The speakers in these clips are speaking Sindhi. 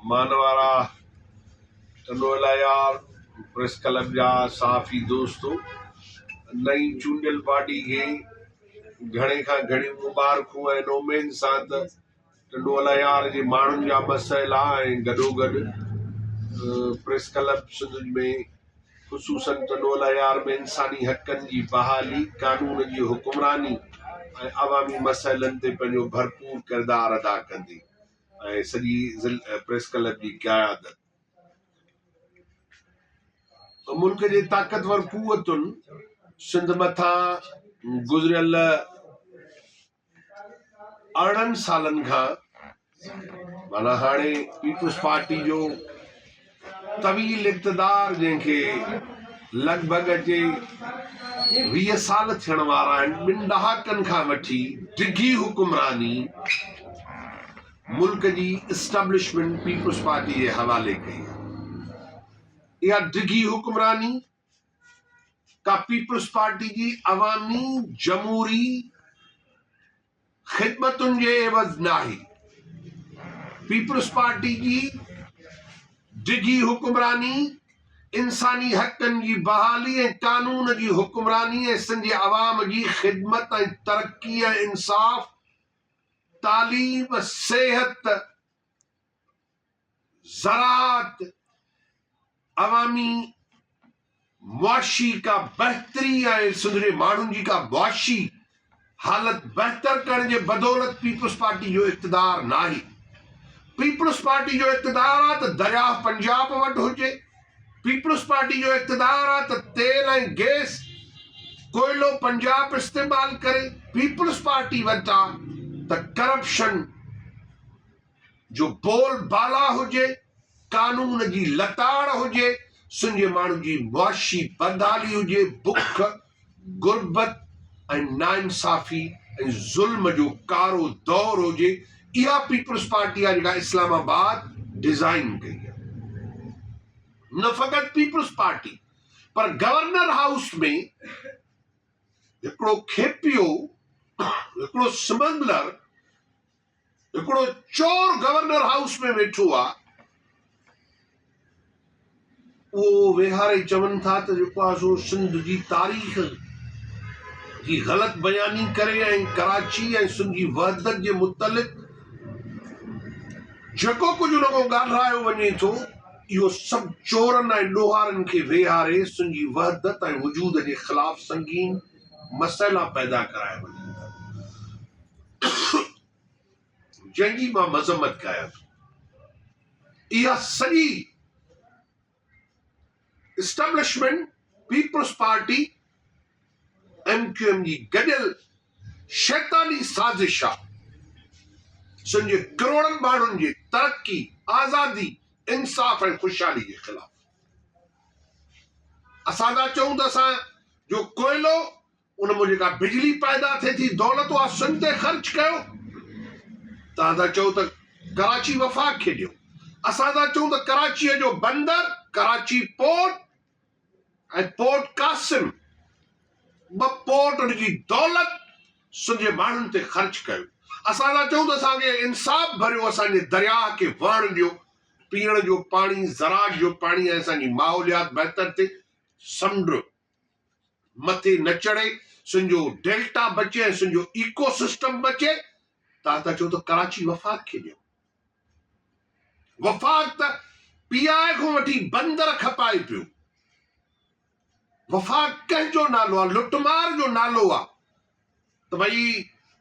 مانوارا ٽنڊوالهيار پريس ڪلب جا صحافي دوست نئين چونڊيل پارٽي کي گهڻي کان گهڻيون مبارڪون ۽ ان اميد سان ته ٽنڊوالهيار جي ماڻهن جا مسئلا ۽ گڏوگڏ پريس ڪلب سنڌ ۾ خصوصن ته ڏولهيار ۾ انساني حقن جي بحالي، قانون جي حڪمراني ۽ عوامي مسئلن تي پنهنجو ڀرپور ڪردار ادا ڪندي ۽ سڄي ضلع پريس ڪلب جي قيادت ملڪ جي طاقتور قوتن سنڌ مٿان گذريل ارڙهن سالن کان معنيٰ هاڻي پيپلز پارٽي جو طويل اقتدار جنهن کي لڳ ڀڳ اچي ويهه سال ٿيڻ وارا آهن ٻن ڏهاڪن کان وٺي ڊگهي حڪمراني ملڪ جي اسٽبلشمنٽ پيپلز پارٽي جي حوالي ڪئي اها ڊگهي حڪمراني ته پيپلز پارٽي جي عوامي جمهوري خدمتن جي عيوض ناهي، پيپلز پارٽي جي ڊگهي حڪمراني، انساني حقن جي بحالي ۽ قانون جي حڪمراني ۽ سنڌ جي عوام جي خدمت ۽ ترقي ۽ انصاف، تعليم، صحت، زراعت عوامي معاشي کا بهتري ۽ سنڌ جي ماڻهن جي کا معاشي حالت بهتر ڪرڻ جي بدولت پيپلز پارٽي جو اقتدار ناهي پيپلز پارٽي جو اقتدار آ ته درياهه پنجاب وٽ هجي پيپلز پارٽي جو اقتدار آ ته تيل ۽ گيس ڪوئلو پنجاب استعمال ڪري پيپلز پارٽي وٽ آ ته ڪرپشن جو بول بالا هجي، قانون جي لتاڙ هجي، سنڌي ماڻهن جي معاشي بدحالي هجي، بک، غربت ۽ ناانصافي ۽ ظلم جو ڪارو دور هجي، اها پيپلز پارٽي آهي جيڪا اسلام آباد ڊزائين ڪئي آهي. نه فقط پيپلز پارٽي پر گورنر هائوس ۾ هڪڙو کيپيو، هڪڙو سمگلر، هڪڙو چور گورنر هائوس ۾ ويٺو آ اهو ويهاري چون ٿا ته جيڪو آ سو سنڌ جي تاريخ جي غلط بياني ڪري ۽ ڪراچي ۽ سنڌ جي وحدت جي متعلق جيڪو ڪجهه ان کان ڳالهرايو وڃي ٿو اهو سڀ چورن ۽ ڏوهارن کي ويهاري سنڌ جي وحدت ۽ وجود جي خلاف سنگين مسئلا پيدا ڪرايا وڃن ٿا جنهن جي مان مذمت ڪريان ٿو اها سڄي establishment Peoples Party M Q M جي گڏيل شيطاني سازش آ سن جي ڪروڙن ماڻهن جي ترقي آزادي انصاف ۽ خوشحالي جي خلاف اسان ٿا چئون ته اسان جو ڪوئلو ان مان جيڪا بجلي پيدا ٿئي ٿي دولت اها سنڌ تي خرچ ڪيو تان ٿا چئو ته ڪراچي وفاق کي ڏيو اسان ٿا چئون ته ڪراچيء جو بندر ڪراچي پورٽ ۽ پورٽ قاسم ٻه پورٽ ان جي دولت سنڌ جي ماڻهن تي خرچ ڪيو اسان ٿا چئون ته اسان کي انصاف ڀريو اسان جي درياهه کي وهڻ ڏيو پيئڻ جو پاڻي، زراعت جو پاڻي ۽ اسان جي ماحوليات بهتر ٿئي، سمنڊ مٿي نه چڙهي، سنجو ڊيلٽا بچي ۽ سنجو ايڪو سسٽم بچي، تان ته چئو ته ڪراچي وفاق کي ڏيو. وفاق ته پي آء کان وٺي بندر کپائي پيو. وفاق ڪنهن جو نالو آ لٽ مار جو نالو آ ته ڀئي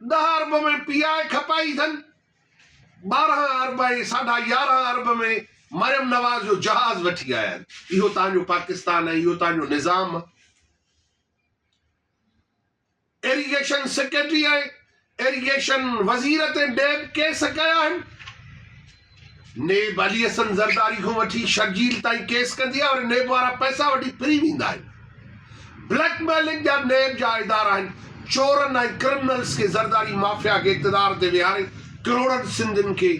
ڏهه ارب ۾ پي آء کپائي اٿن ٻارهن ارب ۽ ساڍا يارهن ارب ۾ مريم نواز جو جهاز وٺي آيا آهن اهو تهان جو پاڪستان ۽ اهو تهان جو نظام ايريگيشن سيڪريٽري ۽ ايريگيشن وزير تي نيب ڪيس ڪيا آهن، نيب علي حسن زرداري کان وٺي شرجيل تائين ڪيس ڪندي آهي ۽ نيب وارا پئسا وٺي ڦري ويندا آهن، بليڪ ميلنگ جا نيب جا ادارا آهن، چورن ۽ ڪرمنلز کي زرداري مافيا کي اقتدار تي ويهاري ڪروڙن سنڌين کي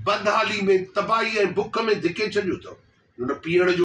بدحالي ۾ تباهي ۽ بک ۾ ڌڪي ڇڏيو اٿو.